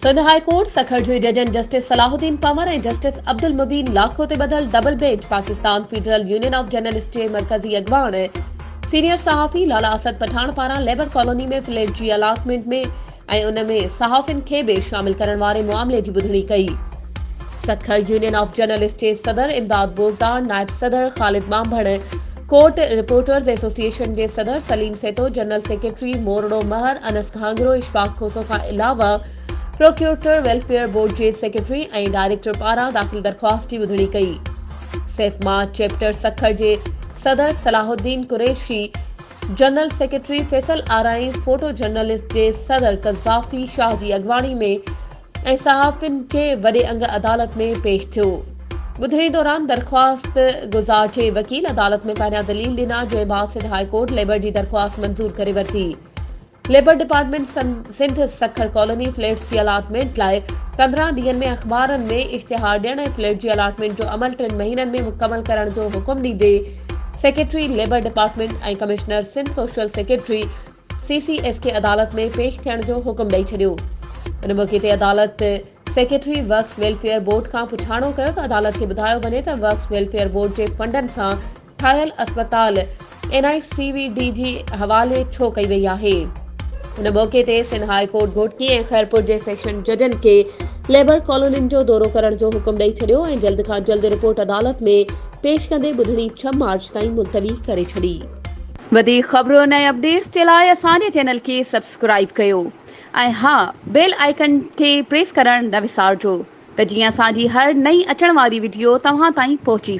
Sindh high court Sukkur جي ججن justice Salahuddin Panhwar ۽ justice Abdul Mubeen Lakho تي ٻڌل double bench Pakistan federal union of journalist جي مرڪزي اڳواڻ ۽ سينيئر صحافي لالا اسد پٺاڻ پاران ليبر ڪالوني ۾ فليٽ جي الاٽمينٽ ۾ ۽ ان ۾ صحافين کي به شامل ڪرڻ واري معاملي جي ٻڌڻي ڪئي. سکر يونين آف جرنلسٽ جي صدر امداد بوزدار، نائب صدر خالد ٻانڀڻ، ڪوٽ رپورٽرز ايسوسيئيشن جي صدر سليم سيتو، جنرل سيڪريٽري موروڙو مهر انس گهانگرو، اشفاق کوسو کان علاوه پروڪيورٽر ويلفيئر بورڊ جي سيڪريٽري ۽ ڊائريڪٽر پاران داخل درخواست جي ٻڌڻي ڪئي. سيفما چيپٽر سکر جي صدر Salahuddin Qureshi, general secretary Faisal Arain photo journalist جي صدر قذافي شاهه جي اڳواڻي ۾ ۽ صحافين جي وڏي انگ عدالت ۾ پيش ٿيو. ٻڌڻي دوران درخواست گذار جي وڪيل عدالت ۾ پهريان دليل ڏنا جنهن بعد سنڌ هاء ڪورٽ ليبر جي درخواست منظور ڪري ورتي. Labour department Sindh Sukkur colony flats جي الاٽمينٽ لاء پندرهن ڏينهن ۾ اخبارن ۾ اشتهار ڏيڻ ۽ فليٽ جي الاٽمينٽ جو عمل ٽن مهينن ۾ مڪمل ڪرڻ جو حڪم ڏيندي secretary labour department ۽ commissioner Sindh social secretary C C S کي عدالت ۾ پيش ٿيڻ جو حڪم ڏئي ڇڏيو ان موقعي تي عدالت سيڪريٽري ورڪس ويلفيئر بورڊ کان پڇاڻو ڪيو ته عدالت کي ٻڌايو وڃي ته ورڪس ويلفيئر بورڊ جي فنڊن سان ٺاهيل اسپتال N I C V D جي حوالي ڇو ڪئي وئي آهي؟ ان موقعي تي سنڌ هاء ڪورٽ گهوٽڪي ۽ خيرپور جي سيڪشن ججن کي ليبر ڪالونين جو دورو ڪرڻ جو حڪم ڏئي ڇڏيو ۽ جلد کان جلد رپورٽ عدالت ۾ پيش ڪندي ٻڌڻي ڇهه مارچ تائين ملتوي ڪري ڇڏي. وڌيڪ خبرن ۽ اپڊيٽس جي لاء اسان جي چينل کي سبسڪرائيب ڪيو ۽ ها بيل آئيڪن کي پريس ڪرڻ نه وسارجو ته جيئن اسان جي هر نئين اچڻ واري وڊيو توهان تائين پهچي